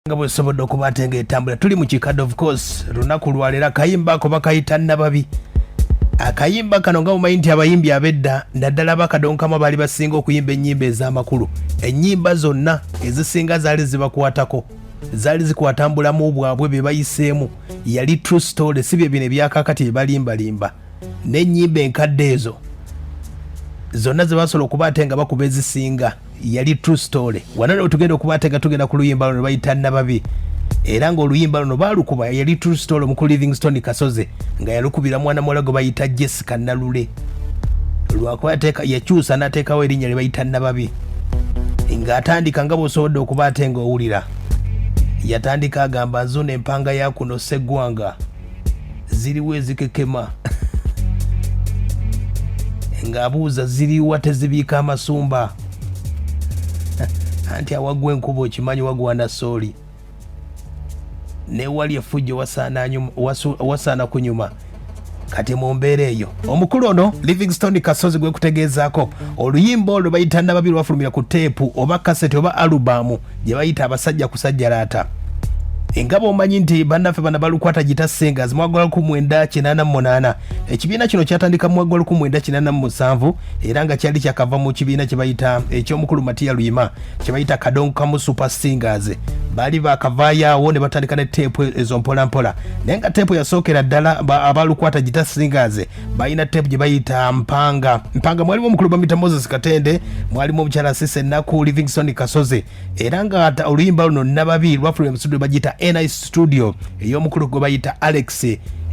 nga bwesobodde okuba ate nga etambula tuli mu kikadde of course lunaku lwaleero akayimba ako bakayita nababi akayimba kano nga mumanyi nti abayimbi abedda naddala bakadonkamu baali basinga okuyimba ennyimba ez'amakulu ennyimba zonna ezisinga zaali zibakwatako zaali zikwatambulamu bwabwe bye bayiseemu yali true story si bye bino ebyakakati bye balimbalimba n'ennyimba enkadde ezo zonna ze basobola okuba ate nga bakuba ezisinga yali true story wano leo tugenda okubatega tugenda ku luyimba luno bayita nababi era ng'oluyimba luno baalukuba yali true story omuku livingstone kasoze nga yalukubira mwana muwala gwe bayita jessica nalule lwakuba yakyusa n'ateekawo erinnya lye bayita nababi ng'atandika nga bwosobodde okuba ate ng'owulira yatandika agamba nzuno empanga ya kuno seggwanga ziriwo ezikekema ng'abuuza ziriwa tezibiika amasumba anti awagwa enkuba okimanyi wagwana sooli newali efujjo wasaana kunyuma kati mu mbeera eyo omukulu ono livingstone kasozi gwekutegeezaako oluyimba olwo bayita nababi lwafulumira ku teepu oba kaseti oba alubamu gye bayita abasajja kusajjalaata enga bwomanyi nti bannaffe bana balukwata gita singers mwagwa luku mwenda kinana mumunana ekibiina kino kyatandika mwagwa luku mwenda kinana mumusanvu era nga kyali kyakava mu kibiina kyebayita ekyomukulu matiya luyima kyebayita kadongo kamu super singers baali bakavayaawo ne batandika ne teepu ezo mpolampola naye nga teepu yasookera ddala abalukwata gita singers balina tepu gye bayita mpanga mpanga mwalimu omukulu bamita moses katende mwalimu omukyala sise ennaku livingston kasozi era nga oluyimba luno nababi lwafulira mu studio bagiyita ni studio ey'omukulu gwe bayita alex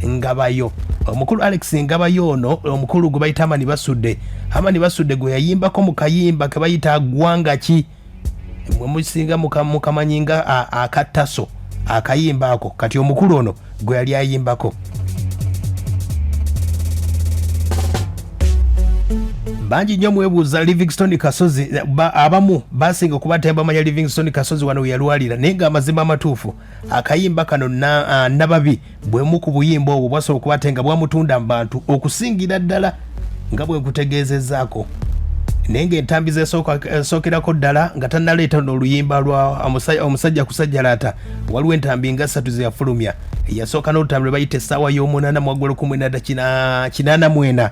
ngabayo omukulu alex ngabayo ono omukulu gwe bayita amani basudde amani basudde gwe yayimbako mu kayimba ke bayita gwanga ki mwe musinga mukamanyi nga akattaso akayimba ako kati omukulu ono gwe yali ayimbako bangi nnyo mwebuuza livingstone kasozi abamu basinga okuba tebamanya livingstone kasozi wano weyalwalira naye nga amazima amatuufu akayimba kano nababi na bwemu ku buyimba obwo bwasobola okuba ate nga bwamutunda mu bantu okusingira ddala nga bwe nkutegeezezaako naye ng'entambi zesookerako eh, ddala nga tannaleeta n'oluyimba lwa omusajja kusajjalaata waliwo entambi nga ssatu zeyafulumya eyasooka n'olutambi lwe bayita essaawa y'omunaana mwaggolo kumwena dda kinaana mwena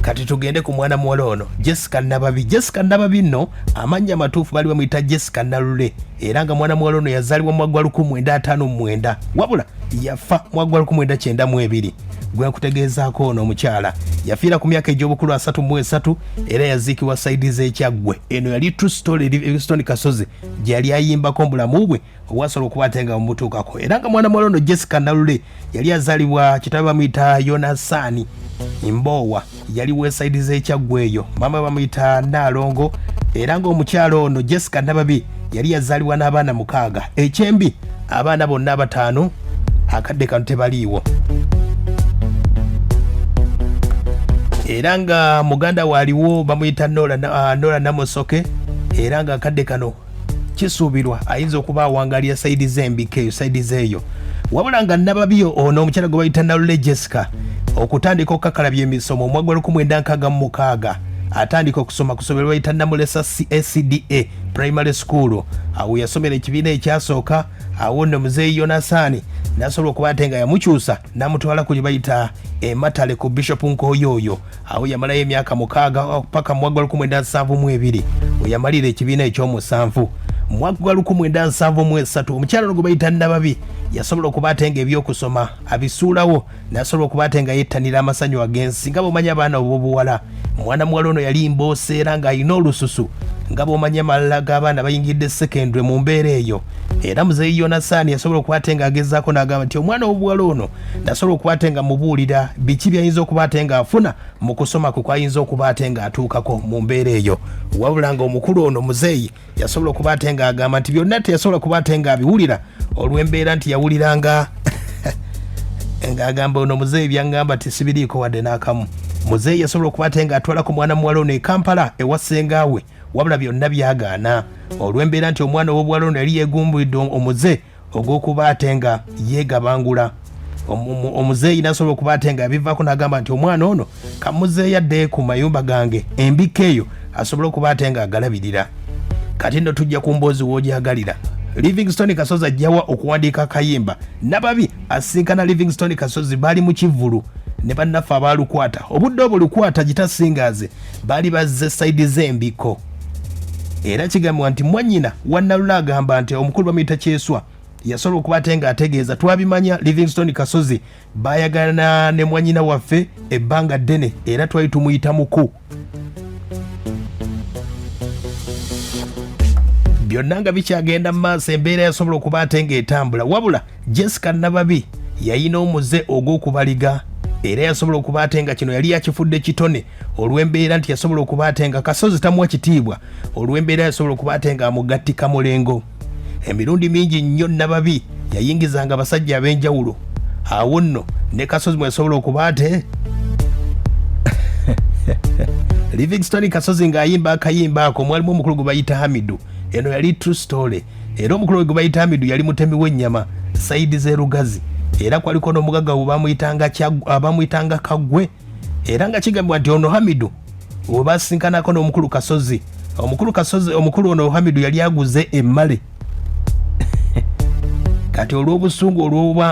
kati tugende ku mwana muwala ono jessica nababi jessica nababi nno amannya amatuufu bali bamuyita jessica nalule era nga mwana muwala ono yazaalibwa mwaggwa 159 wabula yafa mwaggwa 192 gwe nkutegeezaako ono omukyala yafiira ku myaka egy'obukulu 33 era yaziikibwa saidi z'ekyaggwe eno yali true story livingstone kasozi gye yali ayimbako mu bulamu bwe owasobola okuba ate nga omutuukako era nga mwana muwala ono jessica nalule yali azalibwa kitabe bamuyita yonasaani mboowa yali wesaidi zekyaggweeyo maama bamuyita naalongo era ngaomukyala ono jessica nababi yali yazalibwa n'abaana mukaaga ekyembi abaana bonna abataano akadde kano tebaliiwo era nga muganda waaliwo bamuyita nola ah, namusoke era nga akadde kano kisuubirwa ayinza okuba awangalira saidi z'embika eyo saidi zeeyo wabula nga nababi ono omukyala gwe bayita nalule jessica okutandika okukakalabya emisomo omwaka gwa 1966 atandika okusoma ku somero bayita namulesa cacda primary school awo yasomera ekibiina ekyasooka awo nno muzeeyi yonasaani nasobola okuba ate nga yamukyusa namutwala ku lye bayita ematale ku bishop nkooyo oyo awo yamalayo emyaka mukaaga oh, paka mwaka gwa lukumi endansanvu mu ebiri weyamalira ekibiina ekyomusanvu mwaka gwa lukumi endansanvu mu esatu omukyala no gwe bayita nababi yasobola okuba ate nga ebyokusoma abisuulawo nasobola okuba ate nga yettanira amasanyu agensi nga bwomanyi abaana obwobuwala mwana muwala ono yali mboosa era ng'alina olususu nga bwomanyi amalala g'abaana bayingidde sekendwe mu mbeera eyo era muzeeyi yonasaani yasobola okuba ate ng'agezaako n'agamba nti omwana w'obuwala ono nasobola okuba ate nga mubuulira biki byayinza okuba ate nga afuna mu kusoma kwe kwayinza okuba ate nga atuukako mu mbeera eyo wabula nga omukulu ono muzeeyi yasobola okuba ate nga agamba nti byonna teyasobola kuba ate nga abiwulira olw'embeera nti yawulira nga ng'agamba ono muzeeyi byaŋŋamba ti sibiriiko wadde n'akamu muzeeyi yasobola okuba ate nga atwalako mwana muwala ono e kampala ewa ssengaawe wabula byonna byagaana olw'embeera nti omwana ow'obuwala ono yali yegumbulidde omuze ogw'okuba ate nga yeegabangula omuzeeyi nasobola okuba ate nga yabivaako nagamba nti omwana ono kamuzeeyo adde ku mayumba gange embikka eyo asobole okuba ate nga agalabirira kati no tujja ku mboozi w'ogyagalira livingstone kasozi ajjawa okuwandiika akayimba nababi asinkana livingstone kasozi baali mu kivvulu ne bannaffe abaalukwata obudde obwo lukwata gitasingaze baali bazze sayidi z'embiko era kigambibwa nti mwanyina wannalula agamba nti omukulu bamuyita kyeswa yasobola okuba ate nga ategeeza twabimanya livingstone kasozi bayagalana ne mwanyina waffe ebbanga ddene era twali tumuyita muku byonna nga bikyagenda mu maaso embeera yasobola okuba ate ng'etambula wabula jessica nababi yayina omuze ogw'okubaliga era yasobola okuba ate nga kino yali yakifudde kitone olw'embeera nti yasobola okuba ate nga kasozi tamuwa kitiibwa olw'embeera yasobola okuba ate nga amugattika mulengo emirundi mingi nnyo nababi yayingizanga abasajja ab'enjawulo awo nno ne kasozi mwe yasobola okuba ate livingston kasozi ng'ayimba akayimba ako mwalimu omukulu gwe bayita hamidu eno yali true story era omukulu we gwe bayita amidu yali mutemi w'ennyama sayidi z'erugazi era kwaliko n'omugagga we bamuyitanga kagwe era nga kigambibwa nti ono hamidu we basinkanako n'omukulu kasozi omukulu kasozi omukulu ono hamidu yali aguze emmale kati olw'obusungu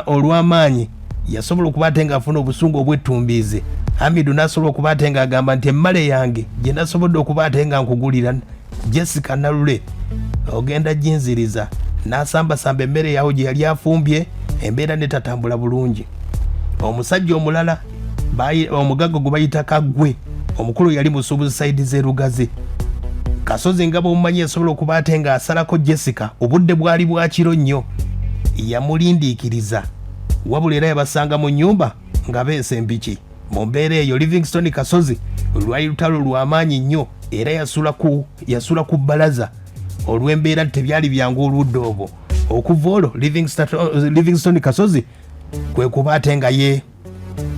olw'amaanyi yasobola okuba ate ng'afuna obusungu obwettumbiize hamidu n'asobola okuba ate ng'agamba nti emmale yange gye nasobodde okuba ate nga nkugulira jessica nalule ogenda jinziriza nasambasamba emmere yawo gye yali afumbye embeera netatambula bulungi omusajja omulala omugagga gwe bayita kaggwe omukulu yali musuubuzi saidi zerugazi kasozi nga bwomumanyi esobola okuba ate nga asalako jessica obudde bwali bwakiro nnyo yamulindiikiriza wabula era yabasanga mu nyumba nga beesa empiki mu mbeera eyo livingston kasozi lwali lutalo lw'amaanyi nnyo era yasula ku bbalaza olw'embeera tebyali byangu oludda obwo okuva olwo livingston kasozi kwe kuba ate nga ye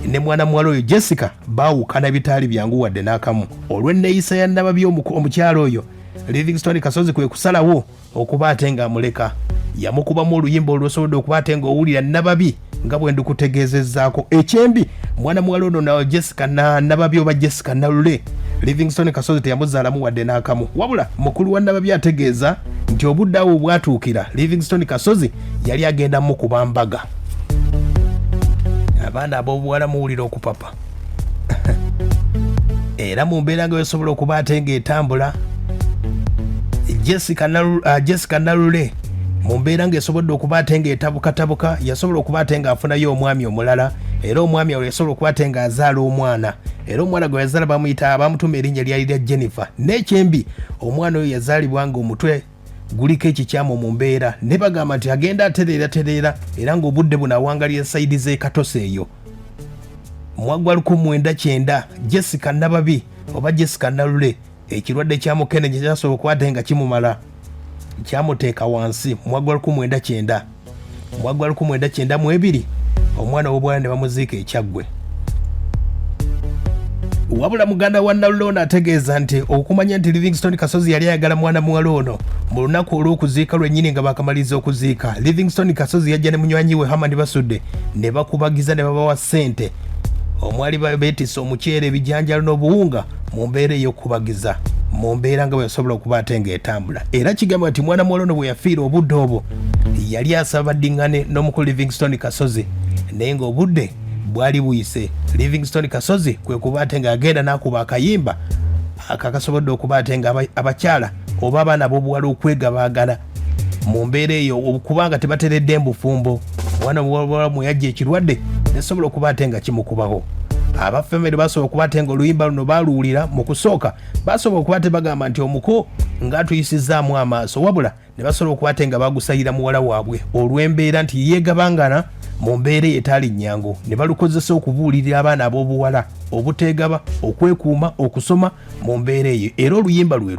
ne mwana muwala oyo jessica baawukana bitaali byangu wadde n'akamu olw'enneeyisa ya nababi omukyalo oyo livingston kasozi kwe kusalawo okuba ate ng'amuleka yamukubamu oluyimba olwosobodde okuba ate ng'owulira nababi nga bwe ndikutegeezezzaako ekyembi mwana muwala ono na jessica nababi oba jessica nalule livingstone kasozi teyamuzaalamu wadde n'akamu wabula mukulu wa nababi ategeeza nti obudde awo obwatuukira livingstone kasozi yali agenda mukuba mbaga abaana ab'obuwala muwulira okupapa era mu mbeera nga wesobola okuba ate ng'etambula jessica uh, nalule mu mbeera ng'esobodde okuba ate ng'etabukatabuka yasobola okuba ate ng'afunayo omwami omulala era omwami awo yasobola okuba ate ng'azaala omwana era omwana gwe yazaala bamuyita bamutuma erinnya lyali lya jennifer n'ekyembi omwana oyo yazaalibwa ng'omutwe guliko ekikyamu mu mbeera ne bagamba nti agenda atereera tereera era ng'obudde buno awangalira sayidi z'ekatosa eyo mwaggwa luku mwenda kyenda jessica nababi oba jessica nalule ekirwadde kya mukene kye kyasobola okukwata nga kimumala kyamuteeka wansi mwaggwa luku mwenda kyenda mwaggwa luku mwenda kyenda mu ebiri omwana w'obwana ne bamuziika ekyaggwe wabula muganda wa nalule ono ategeeza nti okumanya nti livingston kasozi yali ayagala mwana muwala ono mu lunaku olw'okuziika lwennyini nga bakamaliriza okuziika livingston kasozi yajja ne munywanyi we hamani basudde ne bakubagiza ne babawa ssente omwali beetisse omuceere ebijanjalo n'obuwunga mu mbeera ey'okubagiza mu mbeera nga bweyasobola okuba ate ng'etambula era kigamba nti mwana muwala ono bwe yafiira obudde obwo yali asaba baddiŋŋane n'omukulu livingstone kasozi naye ng'obudde bwali buyise livingstone kasozi kwe kuba ate ng'agenda n'akuba akayimba akakasobodde okuba ate nga abakyala oba abaana b'obuwala okwegabaagala mu mbeera eyo okubanga tebateredde mbufumbo omwana muwalamu yajja ekirwadde nesobola okuba ate nga kimukubaho abafamire basobola okuba ate nga oluyimba luno baluwulira mu kusooka basobola okuba te bagamba nti omuko nga tuyisizzaamu amaaso wabula ne basobola okuba te nga bagusayira muwala waabwe olw'embeera nti yeegabangana mu mbeera etaali nnyangu ne balukozesa okubuulirira abaana ab'obuwala obuteegaba okwekuuma okusoma mu mbeera eyo era oluyimba lwe